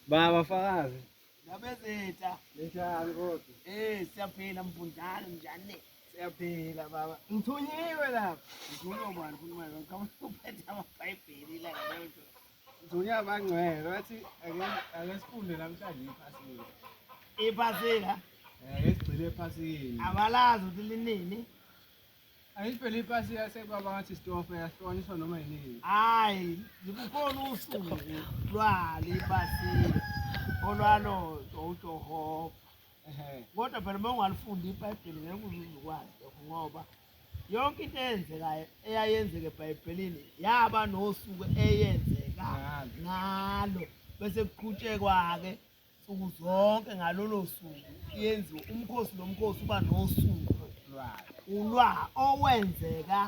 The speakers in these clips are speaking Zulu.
Baba fakazi. Nabezitha. Njani kodwa? Eh siyaphila mfundana njani? Siyaphila baba. Ngithunyiwe lapha. Ngithunyiwe ubani ukhuluma lo? Ngicabanga uphethe amabhayibheli la lento. Ngithunyiwe abangcwele bathi ake ake sifunde namhlanje iphasika. Iphasika? Eh esigcile ephasika. Abalazi ukuthi linini. Ayivele ipasi yasekwaba ngathi sitofe yahlukaniswa noma yinini. Hayi, ngikukhona usuku lwale ipasi olwalo uJehova. Ehhe. Kodwa phela uma ungalifunda iBhayibheli ngeke uzukwazi lokho ngoba yonke into eyenzekayo eyayenzeka eBhayibhelini yaba nosuku eyenzeka Ngalo. ngalo bese kuqhutshekwa-ke nsuku zonke ngalolo suku yenziwa umkhosi nomkhosi uba nosuku ulwa owenzeka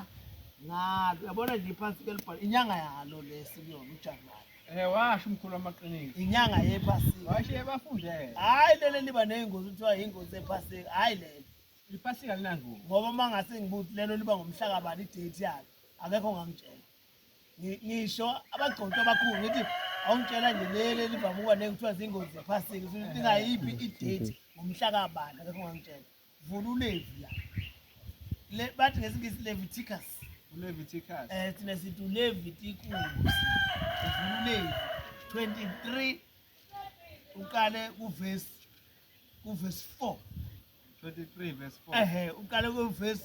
ngalo yabona nje phansi kelibhala inyanga yalo lesi kuyona ujanuwari Eh washo umkhulu amaqiniso. Inyanga yephasika. Washo ebafundele. Hayi lele liba nezingozi kuthiwa ingozi ephasika. Hayi lele. Iphasika linangozi. Ngoba mangase ngibuthi lelo liba ngomhlaka bani date yakhe. Akekho ngangitshela. ngisho abagcotshwa abakhulu ngithi awungitshela nje leli elivame ukuba nekuthiwa zingozi zephasika usuthi ingayiphi idate ngomhla kabani akekho ungangitshela vula ulevi la bathi ngesingisi leviticus uleviticus um thina sithi uleviticus uvula ulevi 23 uqale kuvesi kuvesi 4 23 verse 4 ehe uqale ku verse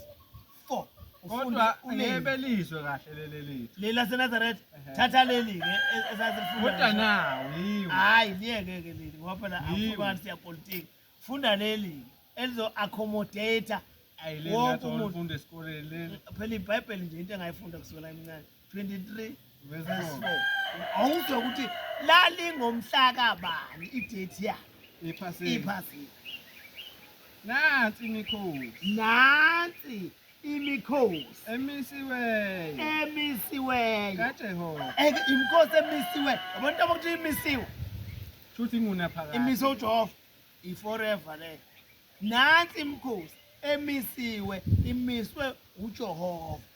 4 kodwa ngebe lizwe kahle leli lethu leli laseNazareth thatha leli ke e- esasifunda kodwa ngalo. nawo yiwo hayi liyeke ke leli ngoba phela Yiwo. afukani siyapolitiki funda leli elizo accommodate ayi leli wonke nathi umuntu. olifunda esikoleni leli phela ibhayibheli nje into engayifunda kusukela emncane 23 verses 4 awuzwa ukuthi lalingomhlaka bani idate yakhe ephasini iphasini nansi imikhosi nansi imikhosi emisiweyo emisiweyo kaJehova eke imikhosi emisiweyo abantu abakuthi imisiwe shuthi inguna phakathi imiso uJehova i forever le nansi imikhosi emisiwe imiswe uJehova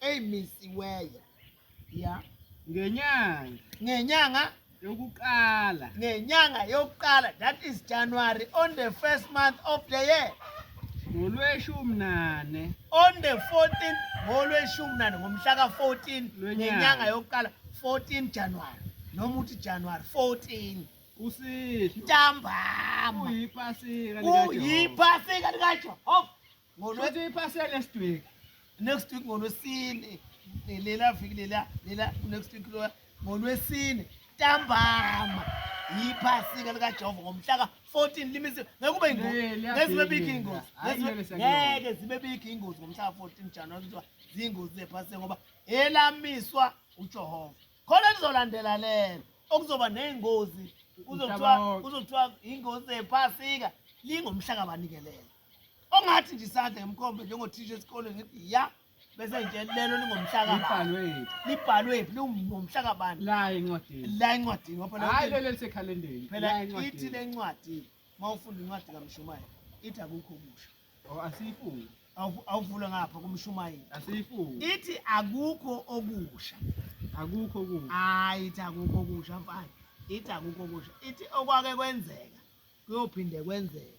eyimisiweyo ya ngenyanga ngenyanga yokuqala ngenyanga yokuqala that is January on the first month of the year ngolweshumi nane on the 14 ngolweshumi nane ngomhla ka-14 ngenyanga yokuqala 14 January noma uthi January 14 usihlwa ntambama uyiphasika likaJehova uyiphasika likaJehova Ngolwethu ipasela next week. Next week ngolwesine. Lela viki lela lela next week lo ngolwesine. Ntambama. Yiphasika lika Jehova ngomhla ka 14 limisi ngekube ingozi. Ngezibe big ingozi. Ngeke zibe big ingozi ngomhla ka 14 January kuthiwa zingozi zephasika ngoba elamiswa uJehova. Khona lizolandela lelo okuzoba nezingozi kuzothiwa kuzothiwa ingozi zephasika lingomhla kabanikelela ongathi nje isandla ngemkhombe njengothisha esikoleni ngithi ya bese nje lelo lingomhlaka Libhalwe. libhalwe phi lingomhlaka bani La encwadini. la encwadini ngoba phela Hayi lelo lisekhalendeni. phela La ithi encwadini. le ncwadi uma ufunda incwadi kamshumayeli ithi akukho kusha Oh, Asiyifungi. Awu- awuvula ngapha kumshumayeli Asiyifungi. ithi akukho okusha Akukho kubi. hayi ithi akukho okusha mfana ithi akukho okusha ithi okwake kwenzeka kuyophinde kwenzeka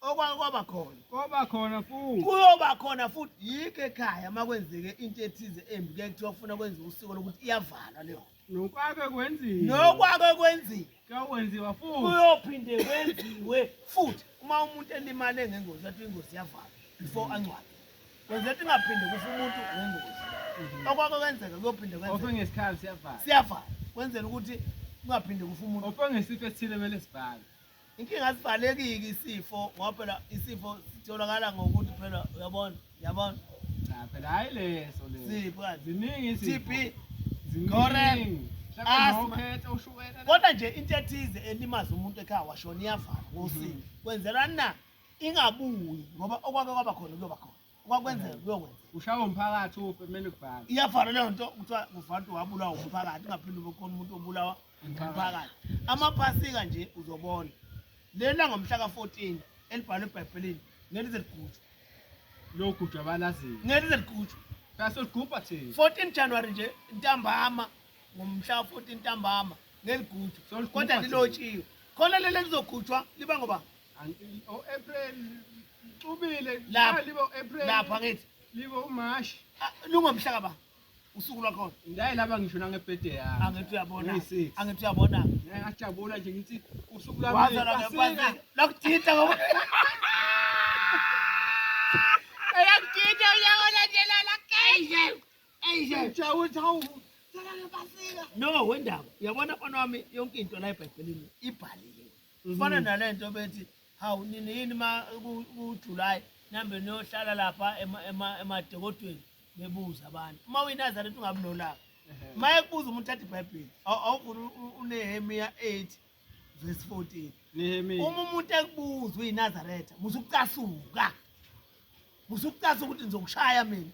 okwake kwaba khona koba khona futhi kuyoba khona futhi yikho ekhaya uma kwenzeke into ethize embi kuye kuthiwa kufuna kwenziwa usiko lokuthi iyavalwa leyo nokwake kwenziwa nokwake kwenziwa kuyokwenziwa futhi kuyophinde kwenziwe futhi uma umuntu elimale ngengozi athi ingozi yavalwa before angcwabe kwenza ukuthi ingaphinde kufa umuntu ngengozi mhm. okwake kwenzeka kuyophinde kwenzeka ofe ngesikhathi siyavala siyavala kwenzela ukuthi kungaphinde kufa umuntu ofe ngesifo esithile kumele sibhale inkinga asivalekiki isifo ngoba phela isifo sitholakala ngokuthi phela uyabona yabona cha phela hayi leso leso sipho ziningi isifo TB ziningi kodwa nje into ethize elimaza umuntu ekhaya washona iyavala ngosini mhm. kwenzelani na ingabuyi ngoba okwake kwaba khona kuyoba khona kwakwenzeka kuyokwenzeka ushawa umphakathi ufe kumele kubhale iyafana leyo nto kuthiwa kufanele ukuthi wabulawa umphakathi ungaphinde ube khona umuntu obulawa umphakathi amaphasika nje uzobona lena ngomhla ka-14 elibhalwe ebhayibhelini ngeke lize ligujwe logujwa abalaziyo ngeke lize ligujwe sasoligubha thina 14 january nje ntambama ngomhla ka-14 ntambama ngeligujwa kodwa lilotshiwe khona leli lizogujwa liba ngoba lapha ngithi libo umashi ah, lungomhla kaba usuku lwakhona ndaye laba ngisho nangebhede yami angithi uyabona angithi uyabona ngajabula nje ngithi usuku lwami lakudida ngoba eyakudida uyabona nje lala kanje eje ngijawuthi hawu no wendaba uyabona mfana wami yonke into la ebhayibhelini ibhaliwe kufana mm. nalento bethi hawu nini yini ma kuJuly nambe niyohlala lapha emadekodweni bebuza abantu uma uyinazareth ungabi nolaka uma ekubuza umuntu athi ibhayibheli awuvula unehemiya 8 verse 14 uma umuntu ekubuza uyinazaretha musukucasuka musukucasuka ukuthi ngizokushaya mina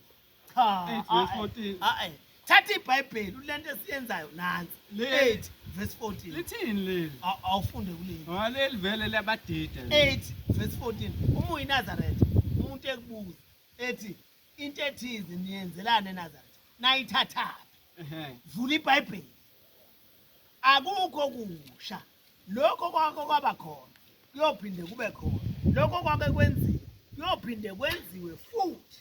cha Eight verse ah, 14. ah, eh. thatha ibhayibheli ulento esiyenzayo nansi Le- 8 verse 14 lithini leli Aw- awufunde kuleli ngoba leli vele liyabadida leli. 8 verse 14 uma uyinazaretha umuntu ekubuza ethi into ethize niyenzelani enazaretha nayithathaphi Ehhe. vula ibhayibheli akukho kusha lokho kwakho kwaba khona kuyophinde kube khona lokho kwake kwenziwa kuyophinde kwenziwe futhi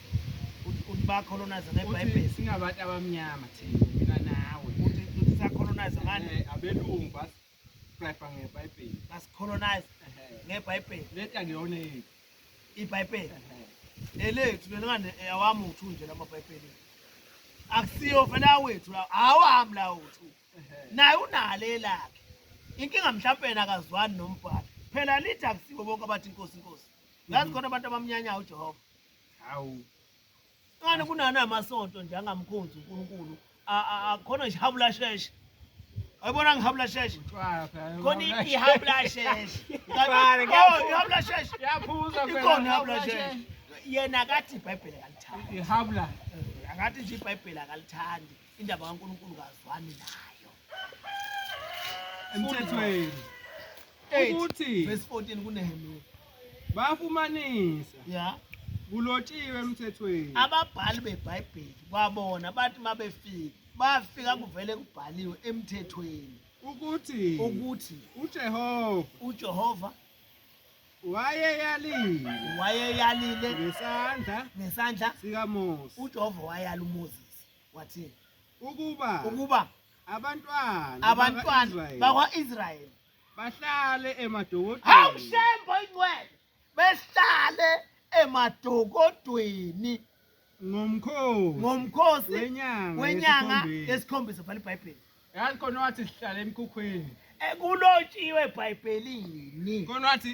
uthi bayacolonize ngebhayibheli singabantu abamnyama thina mina nawe uthi uthi sacolonize ngani eh, abelungu bas prescribe ngebhayibheli basicolonize ngebhayibheli leta ngiyona yini ibhayibheli elethu lena ngane awami uthu nje lama bhayibheli akusiyo fela wethu lawo awami lawo uthu naye unale lakhe inkinga mhlawumbe yena akazwani nombhalo phela lithi akusibo bonke abathi inkosi inkosi ngazi khona abantu abamnyanyayo ujehova hawu kani kunani amasonto nje angamkhonzi uNkulunkulu akhona nje habula sheshe ayibona ngihabula sheshe khona ihabula sheshe ihabula sheshe ikhona ihabula sheshe yena akathi ibhayibheli akalithandi ihabula akathi nje ibhayibheli akalithandi indaba kaNkulunkulu kazwani nayo emthethweni ukuthi verse 14 kuNehemiya bafumanisa yeah kulotshiwe emthethweni ababhali beBhayibheli kwabona bathi mabefika bafika kuvele kubhaliwe emthethweni ukuthi ukuthi uJehova uJehova wayeyalile wayeyalile ngesandla ngesandla sikaMose uJehova wayala uMoses wathi ukuba ukuba abantwana abantwana bakwa-israyeli bahlale emadokodweni hawu shembo ingcwele besihlale emadokodweni ngomkhosi ngomkhosi wenyanga wenyanga yesikhombisa bhala ibhayibheli yazi khona wathi sihlale emkhukhwini ekulotshiwe eh, ebhayibhelini khona wathi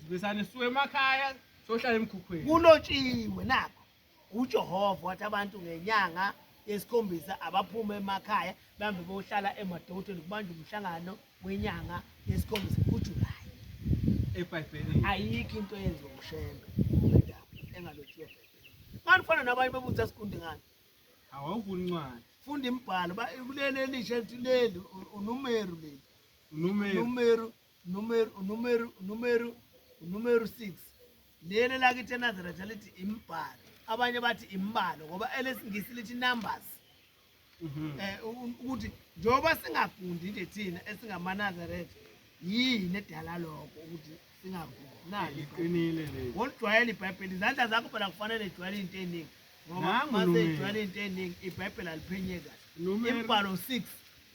sibesane siwe emakhaya sohlala emkhukhwini kulotshiwe nakho UJehova wathi abantu ngenyanga yesikhombisa abaphume emakhaya bambe bohlala emadotweni kubanje umhlangano wenyanga yesikhombisa kuJulayi. EBhayibhelini ayikho into eyenziwa uShembe engalotshiwe eBhayibhelini. Manje ufana nabanye bebuthi asikundi ngani? Awawufuni incwadi. Funda imibhalo kuleli elisha lithi leli uNumeru leli. UNumeru. UNumeru numero numero numero numero 6 leli lakithi enazaretha lithi imbhalo abanye bathi imbalo ngoba elesingisi lithi numbers mhm. eh ukuthi njengoba singafundi nje thina esingamanazaretha yini edala lokho ukuthi singafundi nali iqinile le ngolujwayela ibhayibheli izandla zakho phela kufanele ijwayele into eningi ngoba uma seyijwayele into eningi ibhayibheli aliphenye kahle imbhalo 6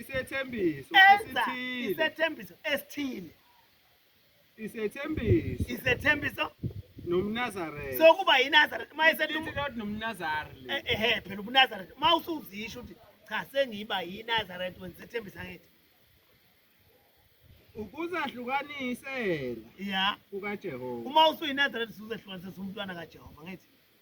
isethembiso enza esithile isethembiso esithile isethembiso isethembiso nomnazaretha sokuba yinazaretha uma esethi Lithi lodwa nomnazari le. Eh, ehe phela ubunazaretha uma usuzisho ukuthi cha sengiba yinazaretha wena isethembiso angithi ukuzahlukanisela ya kukajehova uma usuyinazaretha usuzehlukanisisa umntwana kajehova ngithi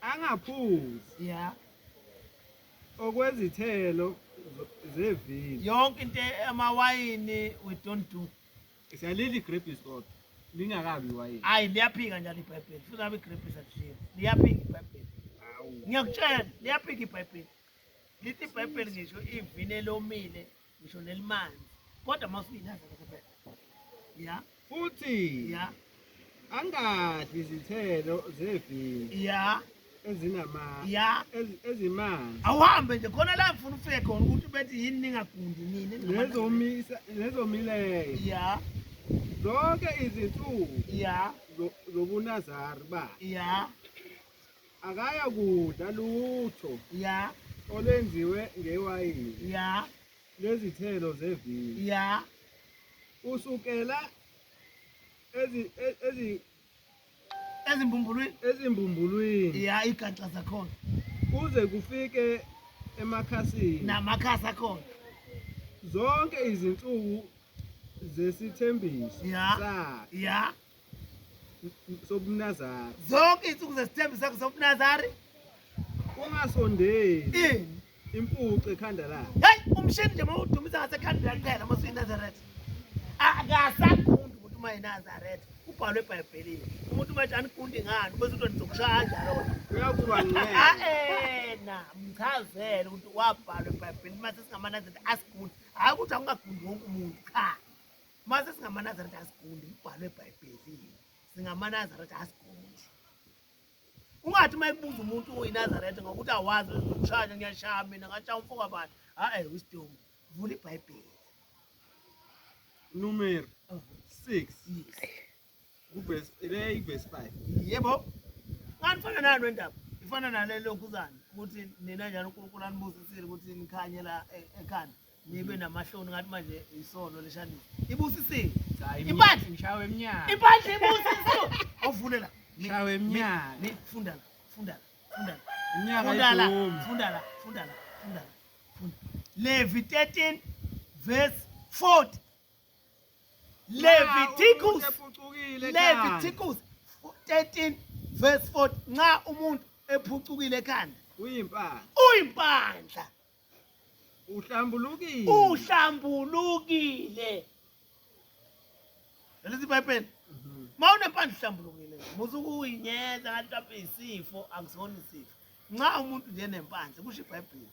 angaphuzi yeah okwezithelo zevini yonke into amawayini we don't do siyalili grapes kodwa lingakabi iwayini hayi liyaphika njalo ibhayibheli futhi abe grapes akushilo liyaphika ibhayibheli ngiyakutshela liyaphika ibhayibheli lithi ibhayibheli ngisho ivini elomile ngisho nelimanzi kodwa mawusingaze kuphela ya futhi ya angadli izithelo zevini ya ezinama ya ezimanzi awuhambe nje khona la ngifuna ufike khona ukuthi bethi yini ningagundi nini nezomisa nezomileyo ya zonke izinsuku ya zobunazari ba ya akaya kudla lutho ya olwenziwe ngewayini ya lezithelo zevini ya usukela ezi e- ezi ezimbumbulwini ezimbumbulwini ya igaxa zakhona kuze kufike emakhasini namakhasi akhona zonke izinsuku zesithembiso Ya. sakhe ya sobunazari zonke izinsuku zesithembu sakho sobunazari ungasondeli ini impuce ekhanda lakhe heyi umshini nje mawudumisa ngasekhanda lakuphela mosuyinazaretha akasagundi umuntu uma yinazaretha ubhalwe ebhayibhelini umuntu manje anigundi ngani bese uthi ndizokushaya kanjalo uyakuba nqena mchazele ukuthi wabhalwa ebhayibhelini mase singamanazeta asigundi hhayi ukuthi awungagundi wonke umuntu cha Mase singamaNazaretha asiguli umbhalo eBhayibhelini. SingamaNazaretha asiguli. Ungathi uma ekubuza umuntu oyinazaretha ngokuthi awazi uzoshaya ngiyashaya mina ngashaya umfo kabani. Hayi wisdom. Vula iBhayibheli. Numeri 6. Yes. Kuvesi le ivesi 5. Yebo. Kanti fana nalo indaba. Ifana nale lokhuzana ukuthi nina njalo uNkulunkulu anibusisile ukuthi nikhanye la e- ekhanda. Nibe namahloni ngathi manje isono leshanisa. Ibusisile. Cha, imi- Impandla. Ngishawe emnyango. Impandla ibusisiwe. Awuvule la. Ni- Ngishawe emnyango. ni- Funda la. Funda la. Funda la. Imnyaka Funda la. idumi. Funda la. Funda la. Funda la. Funda. Levi 13 verse 40. Leviticus Leviticus 13 verse 4 nxa umuntu ephucukile ekhanda uyimpandla uyimpandla uhlambulukile uhlambulukile lesi ibhayibheli mhm. ma unempandla uhlambulukile muze ukuyinyeza kanti lapho isifo akusona isifo nxa umuntu nje nempandla kusho ibhayibheli